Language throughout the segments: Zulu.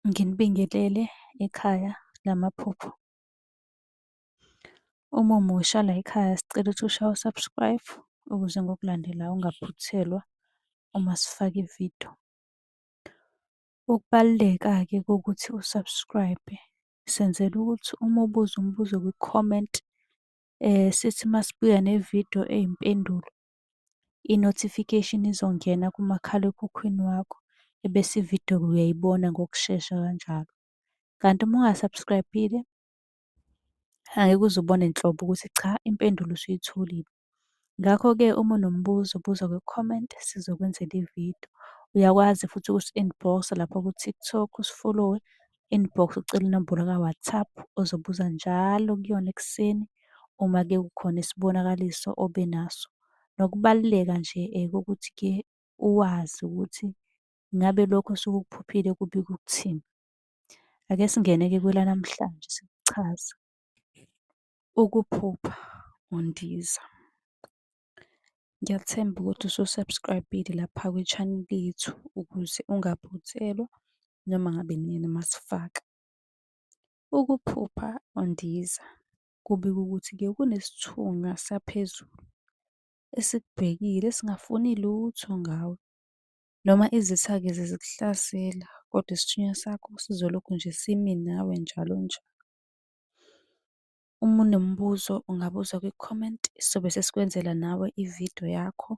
nginibingelele ekhaya lamaphupho. Uma umusha layikhaya sicela ukuthi ushaye u-subscribe ukuze ngokulandelayo ungaphuthelwa uma sifaka ividiyo. Ukubaluleka-ke kokuthi u-subscribe senzela ukuthi uma ubuza umbuzo kwi-comment sithi masibuya nevidiyo eyimpendulo i-notification izongena kumakhalekhukhwini wakho ebese ividiyo-ke uyayibona ngokushesha kanjalo. Kanti uma unga-subscribe-ile angeke uze ubone nhlobo ukuthi cha impendulo usuyitholile. Ngakho-ke uma unombuzo buza kwi-comment sizokwenzela ividiyo. Uyakwazi futhi ukusi-inbox-a lapha ku-TikTok usifolowe inbox ucele inombolo ka-WhatsApp ozobuza njalo kuyona ekuseni uma kukhona isibonakaliso obe naso. Nokubaluleka nje kokuthi-ke uwazi ukuthi ngabe lokho osuke ukuphuphile kubika ukuthini. Ake singene-ke kwelanamhlanje sikuchaze. Ukuphupha undiza. Ngiyathemba ukuthi usu-subscribe-ile lapha kwi-channel yethu ukuze ungaphuthelwa noma ngabe nini uma sifaka. Ukuphupha undiza kubikwa ukuthi kuye kunesithunywa saphezulu esikubhekile esingafuni lutho ngawe. Noma izitha-ke zizikuhlasela kodwa isithunywa sakho sizolokhu nje simi nawe njalo njalo. Uma unombuzo ungabuza kwi-comment, sobe sesikwenzela nawe i-video yakho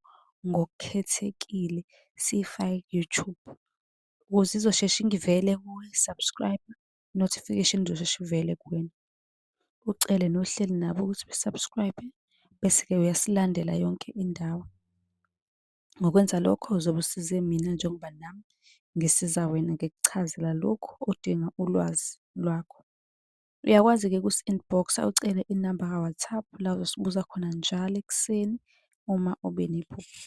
ngokukhethekile siyifake ku-YouTube. Ukuze izosheshe ingivele kuwe, subscribe, notification izosheshe ivele kuwena. Ucele nohleli nabo ukuthi be-subscribe, bese-ke uyasilandela yonke indawo. Ngokwenza lokho uzobe usize mina njengoba nami ngisiza wena ngikuchazela lokhu odinga ulwazi lwakho. Uyakwazi-ke ukusi-inbox-a ucele inamba ka-WhatsApp la ozosibuza khona njalo ekuseni uma ube nephupho.